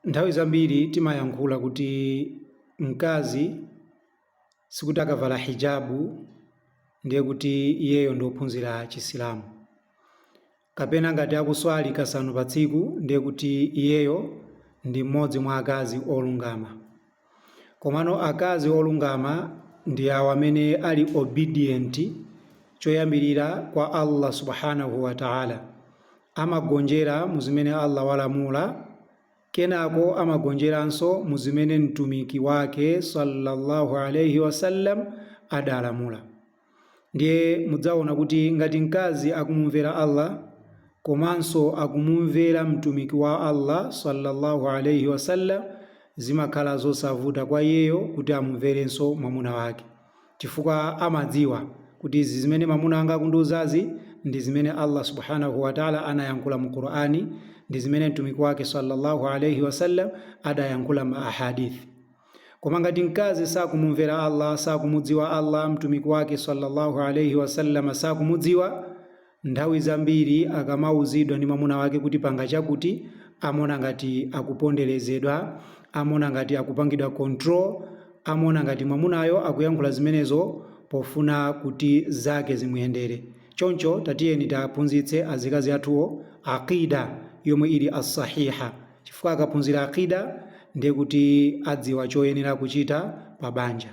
Nthawi zambiri timayankhula kuti mkazi sikuti akavala hijabu ndiye kuti iyeyo ndi ophunzira Chisilamu, kapena ngati akuswali kasanu pa tsiku ndiye kuti iyeyo ndi mmodzi mwa akazi olungama. Komano akazi olungama ndi awo amene ali obedient choyambirira kwa Allah Subhaanahu Wa Ta'ala. Amagonjera mu zimene Allah walamula, kenako amagonjeranso mu zimene Mtumiki Wake, Sallallahu Alayhi Wasallam, adalamula. Ndiye mudzaona kuti ngati mkazi akumumvera Allah komanso akumumvera Mtumiki wa Allah swalla Allahu alaih wasallam, zimakhala zosavuta kwa iyeyo kuti amumverenso mwamuna wake. Chifukwa amadziwa kuti izi zimene mamuna wanga akundiuzazi ndi zimene Allah subhaanah wa Ta'la anayankhula mu Qur'an, ndi zimene Mtumiki wake swalla Allahu alaih wasallam adayankhula mu ahaadiith. Koma ngati mkazi sakumumvera Allah, sakumudziwa Allah, Mtumiki wake sallallahu alayhi wasallam sakumudziwa, nthawi zambiri akamauzidwa ndi mwamuna wake kuti panga chakuti, amona ngati akuponderezedwa, amona ngati akupangidwa control, amona ngati mwamunayo akuyankhula zimenezo pofuna kuti zake zimuyendere. Choncho tatiyeni tiaphunzitse azikazi athuwo Aqeeda yomwe ili as-Sahiha. chifukwa akaphunzira Aqeedah ndekuti adziwa choyenera kuchita pa banja.